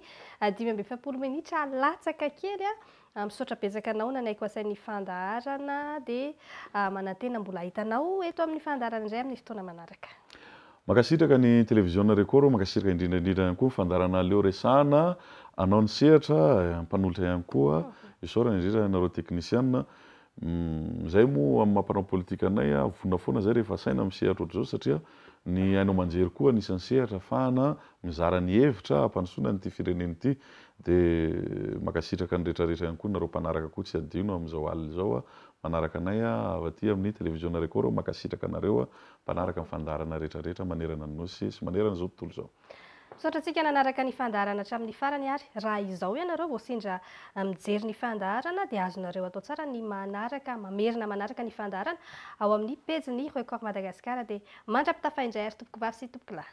dimy amby efapolo minitra latsaka kely a! Misaotra betsaka anao nanaiky ho asain'ny fandaharana dia manantena mbola hahita anao eto amin'ny fandaharana indray amin'ny fotoana manaraka. Mankasitraka ny Televiziona Record, mankasitraka indrindra indrindra ihany koa ny fandaharana Aleo Resahana, anao ny sehatra, mpanolotra ihany koa, isaorana indrindra anareo teknisiana, Humm zay moa amin'ny maha mpanao politika anay a, vonona foana zay rehefa asaina misehatra ohatr'izao satria ny haino aman-jery koa anisan'ny sehatra afahana mizara ny hevitra hampandrosoana an'ity firenena ity. De mankasitraka ny rehetra rehetra ihany koa nareo mpanaraka koa tsy hadino amin'izao alina izao a manaraka anay a avy aty amin'ny televiziona record aho mankasitraka anareo a mpanaraka ny fandaharana rehetra rehetra manerana ny nosy sy manerana izao tontolo izao. Misaotra antsika nanaraka ny fandaharana hatramin'ny farany ary raha izao ianareo vao sendra mijery ny fandaharana dia azonareo atao tsara ny manaraka, mamerina manaraka ny fandaharana ao amin'ny pejin'ny Record Madagascar dia mandra-pitafa indray ary tompoko vavy sy tompoko lahy.